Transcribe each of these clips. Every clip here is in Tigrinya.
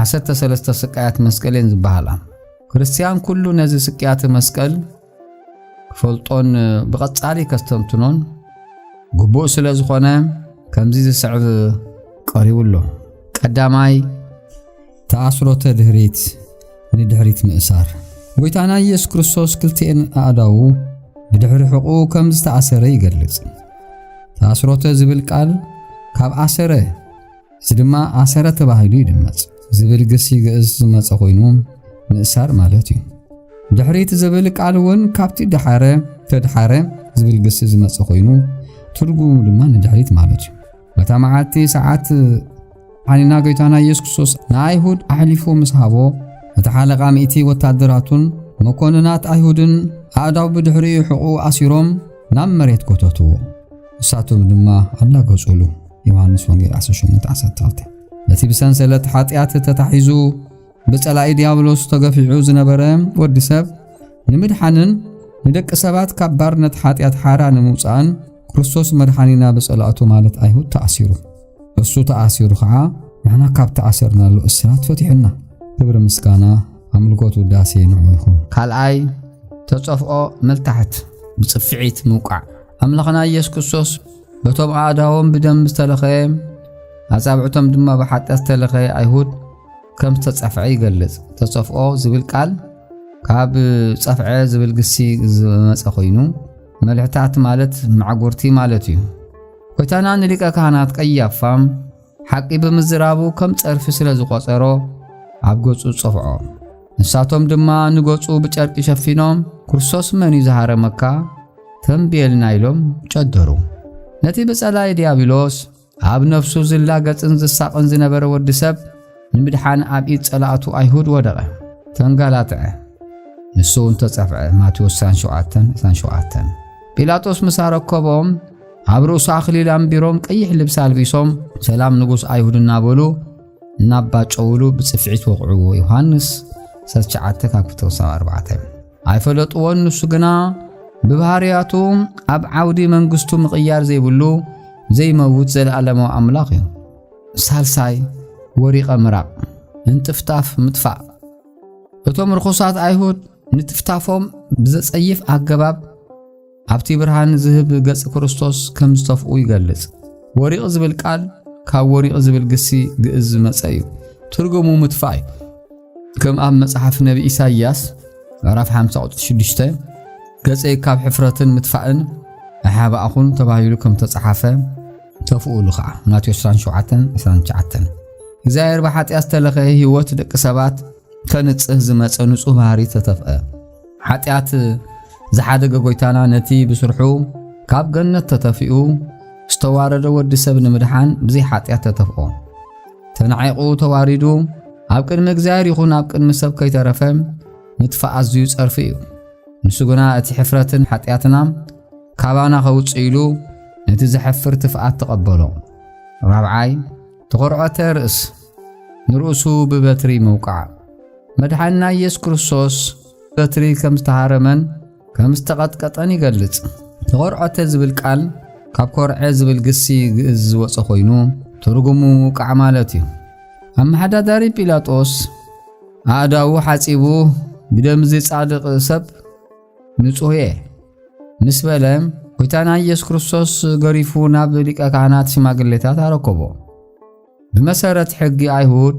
ዓሰርተ ሰለስተ ስቃያት መስቀል እየን ዝበሃላ። ክርስትያን ኩሉ ነዚ ስቅያተ መስቀል ክፈልጦን ብቐጻሊ ከስተንትኖን ግቡእ ስለ ዝኾነ ከምዚ ዝስዕብ ቀሪቡ ኣሎ። ቀዳማይ ተኣስሮተ ድህሪት ንድሕሪት ምእሳር ጎይታና ኢየሱስ ክርስቶስ ክልቲኤን ኣእዳዉ ብድሕሪ ሕቑ ከም ዝተኣሰረ ይገልጽ። ተኣስሮተ ዝብል ቃል ካብ ኣሰረ እዚ ድማ ኣሰረ ተባሂሉ ይድመጽ። ዝብል ግሲ ግእዝ ዝመጸ ኮይኑ ምእሳር ማለት እዩ። ድሕሪ እቲ ዝብል ቃል እውን ካብቲ ድሓረ ተድሓረ ዝብል ግሲ ዝመጸ ኮይኑ ትርጉሙ ድማ ንድሕሪት ማለት እዩ። በታ መዓልቲ ሰዓት ሓኒና ጎይታና ኢየሱስ ክርስቶስ ንኣይሁድ ኣሕሊፉ ምስ ሃቦ እቲ ሓለቓ ሚእቲ ወታደራቱን መኮንናት ኣይሁድን ኣእዳው ብድሕሪኡ ሕቑ ኣሲሮም ናብ መሬት ጎተትዎ። ንሳቶም ድማ ኣላገጹሉ። ዮሃንስ ወንጌል 18:12 ነቲ ብሰንሰለት ሓጢኣት ተታሒዙ ብጸላኢ ዲያብሎስ ተገፊዑ ዝነበረ ወዲ ሰብ ንምድሓንን ንደቂ ሰባት ካብ ባርነት ሓጢኣት ሓራ ንምውፃእን ክርስቶስ መድሓኒና ብጸላእቱ ማለት ኣይሁድ ተኣሲሩ እሱ ተኣሲሩ ከዓ ንሕና ካብ ተኣሰርናሉ እስራት ፈቲሑና ክብሪ ምስጋና ኣምልኮት ውዳሴ ንዑ ይኹን ካልኣይ ተጸፍኦ መልታሕት ብጽፍዒት ምውቃዕ ኣምላኽና ኢየሱስ ክርስቶስ በቶም ኣእዳዎም ብደም ዝተለኸየ ኣጻብዕቶም ድማ ብሓጢኣት ዝተለኸየ ኣይሁድ ከም ዝተጸፍዐ ይገልጽ። ተጸፍኦ ዝብል ቃል ካብ ጸፍዐ ዝብል ግሲ ዝመጸ ኮይኑ መልሕታት ማለት ማዕጎርቲ ማለት እዩ። ጎይታና ንሊቀ ካህናት ቀያፋ ሓቂ ብምዝራቡ ከም ጸርፊ ስለ ዝቖጸሮ ኣብ ገጹ ጸፍዖ። ንሳቶም ድማ ንገጹ ብጨርቂ ሸፊኖም ክርስቶስ መን እዩ ዝሃረመካ ተንብየልና ኢሎም ጨደሩ። ነቲ ብጸላይ ዲያብሎስ ኣብ ነፍሱ ዝላገጽን ዝሳቕን ዝነበረ ወዲ ሰብ ንምድሓን ኣብ ኢድ ጸላእቱ ኣይሁድ ወደቐ፣ ተንጋላትዐ፣ ንሱ እውን ተጸፍዐ። ማቴዎስ 27 ጲላጦስ ምስ ኣረከቦም ኣብ ርእሱ ኣኽሊል ኣንቢሮም ቀይሕ ልብሲ ኣልቢሶም ሰላም ንጉስ ኣይሁድ እናበሉ እናባጨውሉ ብጽፍዒት ወቕዕዎ ዮሃንስ 19 ካብ 4 ኣይፈለጥዎን ንሱ ግና ብባህርያቱ ኣብ ዓውዲ መንግስቱ ምቕያር ዘይብሉ ዘይመውት ዘለዓለማዊ ኣምላኽ እዩ ሳልሳይ ወሪቐ ምራቕ እንጥፍጣፍ ምጥፋእ እቶም ርኹሳት ኣይሁድ ንትፍታፎም ብዘጸይፍ ኣገባብ ኣብቲ ብርሃን ዝህብ ገጽ ክርስቶስ ከም ዝተፍኡ ይገልጽ። ወሪቕ ዝብል ቃል ካብ ወሪቕ ዝብል ግሲ ግእዝ ዝመጸ እዩ። ትርጉሙ ምትፋእ እዩ። ከም ኣብ መጽሓፍ ነቢ ኢሳይያስ ምዕራፍ 50 ቁጽሪ 6 ገጸይ ካብ ሕፍረትን ምትፋእን ኣሓባእኹን ተባሂሉ ከም ተጸሓፈ ተፍኡሉ ኸዓ ማቴዎስ 27 እግዚኣብሔር ብሓጢኣ ዝተለኸየ ህይወት ደቂ ሰባት ከንጽህ ዝመጸ ንጹህ ባህሪ ተተፍአ። ሓጢኣት ዝሓደገ ጎይታና ነቲ ብስርሑ ካብ ገነት ተተፊኡ ዝተዋረደ ወዲ ሰብ ንምድሓን ብዘይ ሓጢኣት ተተፍኦ ተናዒቑ ተዋሪዱ ኣብ ቅድሚ እግዚኣብሔር ይኹን ኣብ ቅድሚ ሰብ ከይተረፈ ምጥፋእ ኣዝዩ ጸርፊ እዩ። ንሱ ግና እቲ ሕፍረትን ሓጢኣትና ካባና ከውፅእ ኢሉ ነቲ ዘሕፍር ትፍኣት ተቐበሎ። ራብዓይ ተኾርዖተ ርእስ ንርእሱ ብበትሪ ምውቃዕ መድሓንና ኢየሱስ ክርስቶስ በትሪ ከም ዝተሃረመን ከም ዝተቐጥቀጠን ይገልጽ። ተኾርዖተ ዝብል ቃል ካብ ኮርዐ ዝብል ግሲ ግእዝ ዝወፀ ኮይኑ ትርጉሙ ውቃዕ ማለት እዩ። ኣመሓዳዳሪ ጲላጦስ ኣእዳዉ ሓጺቡ ብደምዚ ጻድቕ ሰብ ንጹሕየ ምስ በለ ጐይታና ኢየሱስ ክርስቶስ ገሪፉ ናብ ሊቀ ካህናት ሽማግሌታት ኣረከቦ። ብመሰረት ሕጊ ኣይሁድ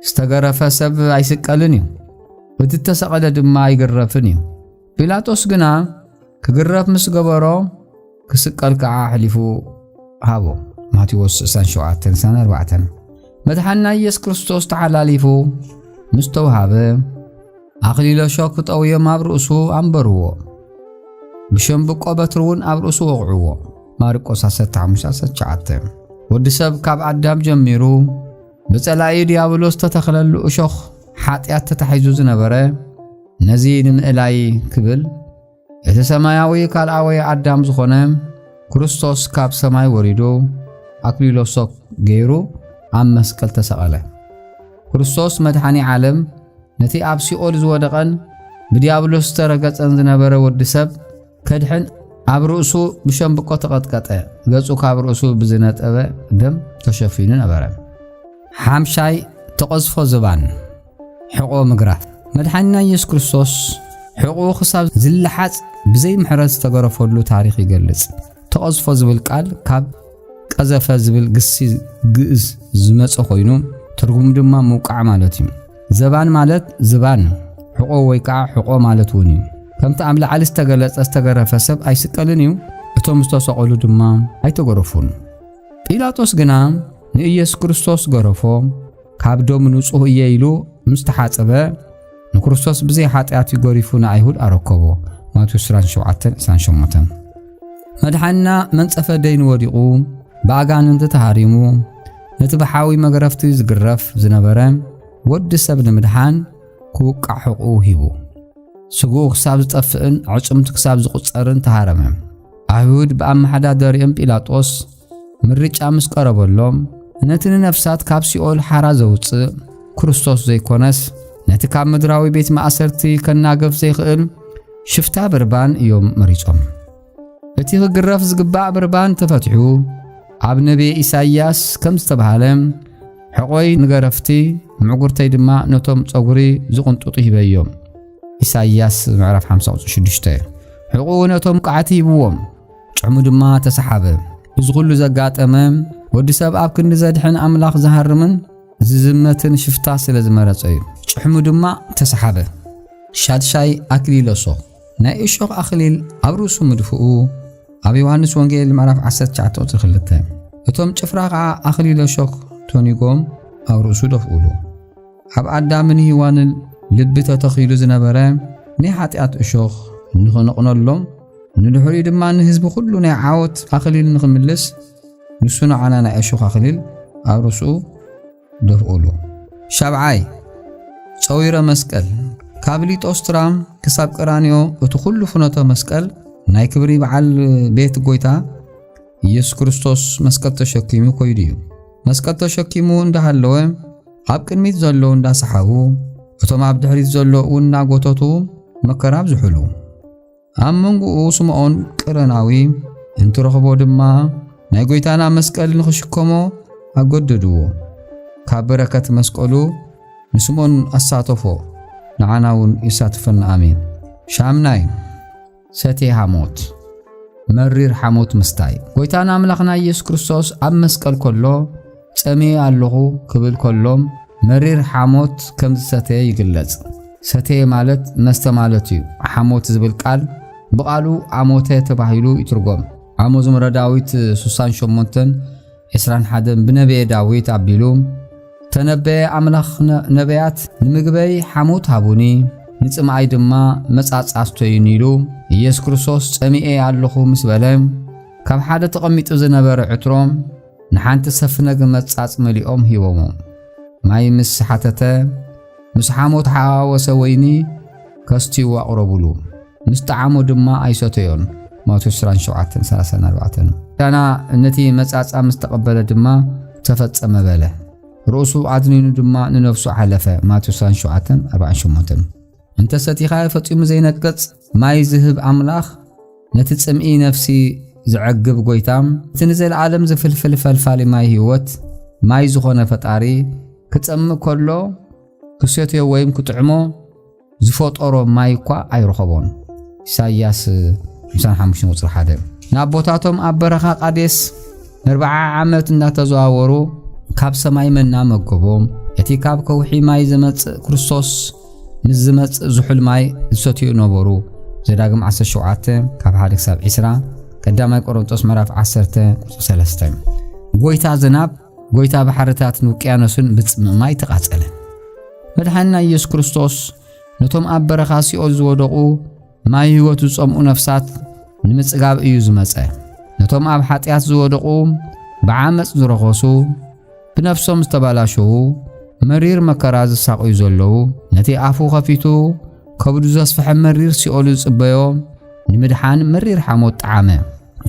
ዝተገረፈ ሰብ ኣይስቀልን እዩ፣ እቲ እተሰቐለ ድማ ኣይግረፍን እዩ። ጲላጦስ ግና ክግረፍ ምስ ገበሮ ክስቀል ከኣ ኣሕሊፉ ሃቦ። ማቴዎስ 27-4 መድሓንና ኢየሱስ ክርስቶስ ተሓላሊፉ ምስ ተውሃበ ኣኽሊለ ሾክ ጠውዮም ኣብ ርእሱ ኣንበርዎ። ብሸምብቆ በትሪ እውን ኣብ ርእሱ ወቕዕዎ። ማርቆስ 15-19 ወዲ ሰብ ካብ ኣዳም ጀሚሩ ብጸላኢ ዲያብሎስ ተተኽለሉ እሾኽ ሓጢኣት ተታሒዙ ዝነበረ ነዚ ንምእላይ ክብል እቲ ሰማያዊ ካልኣወይ ኣዳም ዝኾነ ክርስቶስ ካብ ሰማይ ወሪዱ ኣክሊሎ ሶክ ገይሩ ኣብ መስቀል ተሰቐለ። ክርስቶስ መድሓኒ ዓለም ነቲ ኣብ ሲኦል ዝወደቐን ብዲያብሎስ ዝተረገጸን ዝነበረ ወዲ ሰብ ከድሕን ኣብ ርእሱ ብሸምብቆ ተቐጥቀጠ፣ ገጹ ካብ ርእሱ ብዝነጠበ ደም ተሸፊኑ ነበረ። ሓምሻይ ተቐዝፎ ዝባን ሕቖ ምግራፍ መድሓኒና ኢየሱስ ክርስቶስ ሕቑኡ ክሳብ ዝለሓጽ ብዘይ ምሕረት ዝተገረፈሉ ታሪኽ ይገልጽ። ተቐዝፎ ዝብል ቃል ካብ ቀዘፈ ዝብል ግሲ ግእዝ ዝመጸ ኮይኑ ትርጉሙ ድማ ምውቃዕ ማለት እዩ። ዘባን ማለት ዝባን ሕቆ ወይ ከዓ ሕቆ ማለት እውን እዩ። ከምቲ ኣብ ላዕሊ ዝተገለጸ ዝተገረፈ ሰብ ኣይስቀልን እዩ፣ እቶም ዝተሰቐሉ ድማ ኣይተገረፉን። ጲላጦስ ግና ንኢየሱስ ክርስቶስ ገረፎ። ካብ ደሙ ንጹህ እየ ኢሉ ምስ ተሓጸበ ንክርስቶስ ብዘይ ሓጢኣት እዩ ገሪፉ ንኣይሁድ ኣረከቦ ማቴዎስ 27:28 መድሓንና መንጸፈ ደይኑ ወዲቑ ብኣጋንንቲ ተሃሪሙ ነቲ ብሓዊ መግረፍቲ ዝግረፍ ዝነበረ ወዲ ሰብ ንምድሓን ክውቃዕ ሕቑ ሂቡ ስግኡ ክሳብ ዝጠፍእን ዕጽምቲ ክሳብ ዝቝጸርን ተሃረመ ኣይሁድ ብኣመሓዳደሪኦም ጲላጦስ ምርጫ ምስ ቀረበሎም ነቲ ንነፍሳት ካብ ሲኦል ሓራ ዘውጽእ ክርስቶስ ዘይኮነስ ነቲ ካብ ምድራዊ ቤት ማእሰርቲ ከናገፍ ዘይኽእል ሽፍታ ብርባን እዮም መሪጾም። እቲ ክግረፍ ዝግባእ ብርባን ተፈትሑ ኣብ ነቢየ ኢሳይያስ ከም ዝተባህለ ሕቖይ ንገረፍቲ ምዕጉርተይ ድማ ነቶም ጸጉሪ ዝቕንጡጡ ሂበዮም ኢሳይያስ ምዕራፍ 56 ሕቑኡ ነቶም ቃዕቲ ሂብዎም ጭዕሙ ድማ ተሰሓበ። እዚ ዅሉ ዘጋጠመ፣ ወዲ ሰብ ኣብ ክንዲ ዘድሕን ኣምላኽ ዝሃርምን ዝዝመትን ሽፍታ ስለ ዝመረጸ እዩ። ጭሕሙ ድማ ተሰሓበ። ሻድሻይ ኣክሊል እሾኽ ናይ እሾኽ ኣኽሊል ኣብ ርእሱ ምድፍኡ ኣብ ዮሃንስ ወንጌል ምዕራፍ 19 ቁጽሪ 2 እቶም ጭፍራ ኸዓ ኣኽሊለ እሾኽ ቶኒጎም ኣብ ርእሱ ደፍኡሉ። ኣብ ኣዳምን ሂዋንን ልቢ ተተኺሉ ዝነበረ ናይ ሓጢኣት እሾኽ ንኽንቕነሎም ንድሕሪኡ ድማ ንህዝቢ ኩሉ ናይ ዓወት ኣኽሊል ንኽምልስ ንሱ ንዓና ናይ እሾኽ ኣኽሊል ኣብ ርእሱ ደፍኡሉ። ሻብዓይ ጸዊረ መስቀል ካብ ሊጦስትራ ክሳብ ቀራንዮ እቲ ኩሉ ፍኖተ መስቀል ናይ ክብሪ በዓል ቤት ጎይታ ኢየሱስ ክርስቶስ መስቀል ተሸኪሙ ኮይዱ እዩ። መስቀል ተሸኪሙ እንዳሃለወ ኣብ ቅድሚት ዘለዉ እንዳሰሓቡ እቶም ኣብ ድሕሪት ዘሎ እውን እናጎተቱ መከራ ኣብዝሑሉ። ኣብ መንጎኡ ስምዖን ቅረናዊ እንትረኽቦ ድማ ናይ ጎይታና መስቀል ንኽሽከሞ ኣገደድዎ። ካብ በረከት መስቀሉ ንስምዖን ኣሳተፎ፣ ንዓና እውን የሳትፈና። ኣሜን። ሻምናይ ሰቴ ሃሞት መሪር ሓሞት ምስታይ ጎይታና ኣምላኽና ኢየሱስ ክርስቶስ ኣብ መስቀል ከሎ ጸሜ ኣለኹ ክብል ከሎም መሪር ሓሞት ከም ዝሰተየ ይግለጽ። ሰተየ ማለት መስተ ማለት እዩ። ሓሞት ዝብል ቃል ብቓሉ ኣሞተ ተባሂሉ ይትርጎም። ኣብ መዝሙረ ዳዊት 68 ዕስራን ሓደን ብነብየ ዳዊት ኣቢሉ ተነበየ ኣምላኽ ነብያት ንምግበይ ሓሞት ሃቡኒ ንጽምኣይ ድማ መጻጽ ኣስተዩኒ ኢሉ ኢየሱስ ክርስቶስ ጸሚኤ ኣለኹ ምስ በለ ካብ ሓደ ተቐሚጡ ዝነበረ ዕትሮ ንሓንቲ ሰፍነግ መጻጽ መሊኦም ሂቦሞ ማይ ምስ ሓተተ ምስ ሓሞት ሓዋወሰ ወይኒ ከስትዩ ኣቕረቡሉ። ምስ ጠዓሞ ድማ ኣይሰተዮን። ማቴዎስ 27 30 4 ዳና ነቲ መጻጻ ምስ ተቐበለ ድማ ተፈጸመ በለ። ርእሱ ኣድኒኑ ድማ ንነፍሱ ሓለፈ። ማቴዎስ 27 48 እንተ ሰቲኻ ፈጺሙ ዘይነቅጽ ማይ ዝህብ ኣምላኽ፣ ነቲ ጽምኢ ነፍሲ ዘዐግብ ጐይታ፣ እቲ ንዘለኣለም ዝፍልፍል ፈልፋሊ ማይ ህይወት፣ ማይ ዝኾነ ፈጣሪ፣ ክጸምእ ከሎ ክሰትዮ ወይም ክጥዕሞ ዝፈጠሮ ማይ እኳ ኣይረኸቦን። ኢሳይያስ 55:1 ንኣቦታቶም ኣብ በረኻ ቃዴስ ንርብዓ ዓመት እንዳተዘዋወሩ ካብ ሰማይ መና መገቦም። እቲ ካብ ከውሒ ማይ ዘመጽእ ክርስቶስ ምስ ዝመጽእ ዝሑል ማይ ዝሰትዩ ነበሩ። ዘዳግም 17 ካብ 1 ክሳብ 20 ቀዳማይ ቆሮንጦስ ምዕራፍ 10 ቁጽሪ 3 ጎይታ ዝናብ ጎይታ ባሕርታትን ውቅያኖስን ብጽምእ ማይ ተቓጸለ። መድሓንና ኢየሱስ ክርስቶስ ነቶም ኣብ በረኻ ሲኦል ዝወደቑ ማይ ሕይወት ዝጸምኡ ነፍሳት ንምጽጋብ እዩ ዝመጸ። ነቶም ኣብ ሓጢኣት ዝወደቑ፣ ብዓመፅ ዝረኸሱ፣ ብነፍሶም ዝተባላሸዉ፣ መሪር መከራ ዝሳቕዩ ዘለዉ፣ ነቲ ኣፉ ኸፊቱ ከብዱ ዘስፍሐ መሪር ሲኦሉ ዝጽበዮ ንምድሓን መሪር ሓሞት ጠዓመ።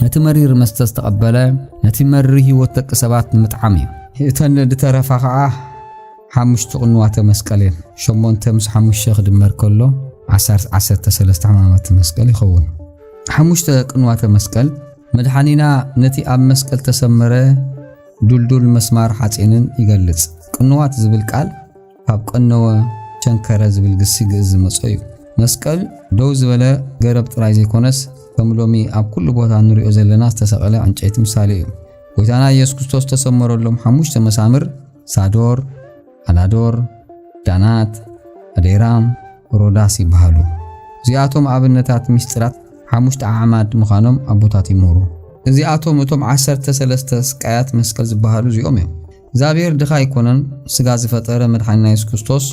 ነቲ መሪር መስተ ዝተቐበለ ነቲ መሪር ሕይወት ደቂ ሰባት ንምጥዓም እዩ። እተን ዝተረፋ ኸዓ ሓሙሽቱ ቅንዋተ መስቀል እየን። ሸሞንተ ምስ ሓሙሽተ ክድመር ከሎ ዓሰርተ ዓሰርተ ሰለስተ ሕማማተ መስቀል ይኸውን። ሓሙሽተ ቅንዋተ መስቀል መድሓኒና ነቲ ኣብ መስቀል ተሰመረ ዱልዱል መስማር ሓጺንን ይገልጽ። ቅንዋት ዝብል ቃል ካብ ቀነወ ቸንከረ ዝብል ግሲ ግእዝ ዝመጾ እዩ። መስቀል ደው ዝበለ ገረብ ጥራይ ዘይኮነስ ከም ሎሚ ኣብ ኩሉ ቦታ ንሪኦ ዘለና ዝተሰቐለ ዕንጨይቲ ምሳሌ እዩ። ጎይታና ኢየሱስ ክርስቶስ ተሰመረሎም ሓሙሽተ መሳምር ሳዶር፣ ኣላዶር፣ ዳናት፣ ኣዴራም፣ ሮዳስ ይበሃሉ። እዚኣቶም ኣብነታት ምስጢራት ሓሙሽተ ኣዕማድ ምዃኖም ኣቦታት ይምህሩ። እዚኣቶም እቶም ዓሰርተ ሰለስተ ስቃያት መስቀል ዝበሃሉ እዚኦም እዮም። እግዚኣብሔር ድኻ ኣይኮነን። ስጋ ዝፈጠረ መድሓኒና የሱስ ክርስቶስ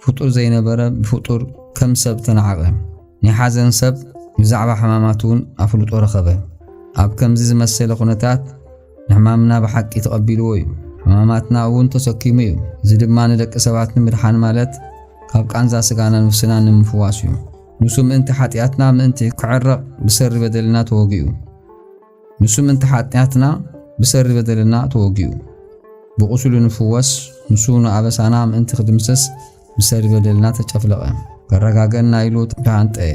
ፍጡር ዘይነበረ ብፍጡር ከም ሰብ ተናዕቐ። ናይ ሓዘን ሰብ ብዛዕባ ሕማማት እውን ኣፍልጦ ረኸበ። ኣብ ከምዚ ዝመሰለ ኩነታት ንሕማምና ብሓቂ ተቐቢልዎ እዩ፣ ሕማማትና እውን ተሰኪሙ እዩ። እዚ ድማ ንደቂ ሰባት ንምድሓን ማለት ካብ ቃንዛ ስጋናን ንፍስናን ንምፍዋስ እዩ። ንሱ ምእንቲ ሓጢኣትና ምእንቲ ክዕረቕ ብሰሪ በደልና ተወጊኡ። ንሱ ምእንቲ ሓጢኣትና ብሰሪ በደልና ተወጊኡ። ብቑስሉ ንፍወስ፣ ንሱ ንኣበሳና ምእንቲ ክድምስስ ምሰ በደልና ተጨፍለቐ ከረጋገእና ኢሉ ተሃንጠየ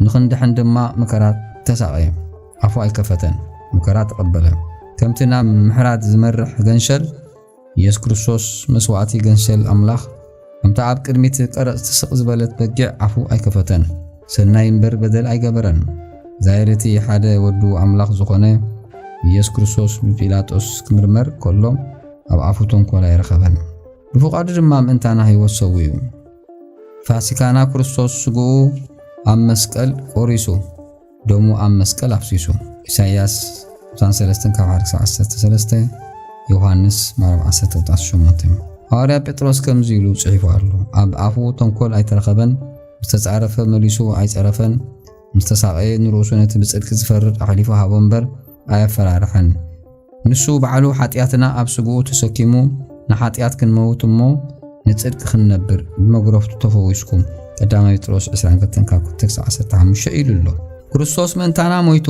ንኽንድሕን ድማ መከራ ተሳቐየ ኣፉ ኣይከፈተን መከራ ተቐበለ ከምቲ ናብ ምሕራት ዝመርሕ ገንሸል ኢየሱስ ክርስቶስ መስዋእቲ ገንሸል ኣምላኽ ከምታ ኣብ ቅድሚት ቀረጽ ትስቕ ዝበለት በጊዕ ኣፉ ኣይከፈተን ሰናይ እምበር በደል ኣይገበረን ዛይርቲ ሓደ ወዱ ኣምላኽ ዝኾነ ኢየሱስ ክርስቶስ ብጲላጦስ ክምርመር ከሎ ኣብ ኣፉ ተንኮል ኣይረኸበን ብፍቓዱ ድማ ምእንታና ሕይወት ሰዊኡ። ፋሲካና ክርስቶስ ስግኡ ኣብ መስቀል ቆሪሱ፣ ደሙ ኣብ መስቀል ኣፍሲሱ። ኢሳይያስ ቁሳን ሰለስተን ካብ ሓደ ክሳብ ዓሰርተ ሰለስተ ዮሃንስ ምዕራፍ ዓሰርተ ቁጥሪ ዓሰርተ ሸሞንተ ሃዋርያ ጴጥሮስ ከምዚ ኢሉ ጽሒፉ ኣሎ፣ ኣብ ኣፉ ተንኮል ኣይተረኸበን፣ ምስ ተጻረፈ መሊሱ ኣይጸረፈን፣ ምስ ተሳቐየ ንርእሱ ነቲ ብጽድቂ ዝፈርድ ኣሕሊፉ ሃቦ እምበር ኣየፈራርሐን። ንሱ ባዕሉ ሓጢኣትና ኣብ ስግኡ ተሰኪሙ ንሓጢኣት ክንመውት እሞ ንጽድቂ ክንነብር ብመግረፍቱ ተፈዊስኩም ቀዳማይ ጴጥሮስ 22 ካብ 2-15 ኢሉ ኣሎ። ክርስቶስ ምእንታና ሞይቱ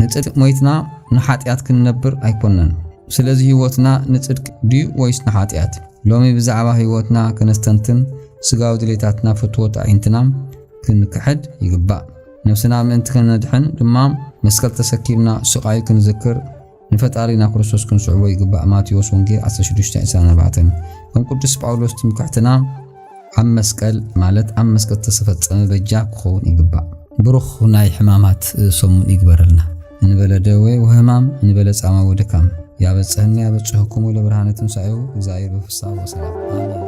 ንጽድቂ ሞይትና ንሓጢኣት ክንነብር ኣይኮነን። ስለዚ ህይወትና ንጽድቂ ድዩ ወይስ ንሓጢኣት? ሎሚ ብዛዕባ ህይወትና ከነስተንትን ስጋዊ ድሌታትና ፍትወት ኣዒንትና ክንክሕድ ይግባእ። ነፍስና ምእንቲ ከነድሕን ድማ መስቀል ተሰኪምና ስቓዩ ክንዝክር ንፈጣሪና ክርስቶስ ክንስዕቦ ይግባእ ማቴዎስ ወንጌል 16:24 ከም ቅዱስ ጳውሎስ ትምክሕትና ኣብ መስቀል ማለት ኣብ መስቀል ተሰፈጸመ በጃ ክኸውን ይግባእ ብሩኽ ናይ ሕማማት ሰሙን ይግበረልና እንበለ ደዌ ወህማም እንበለ ጻማ ወድካም ያበጽሕኒ ያበጽሕኩም ለብርሃነ ትንሣኤው እግዚኣብሔር በፍስሓ ወሰላም አሜን።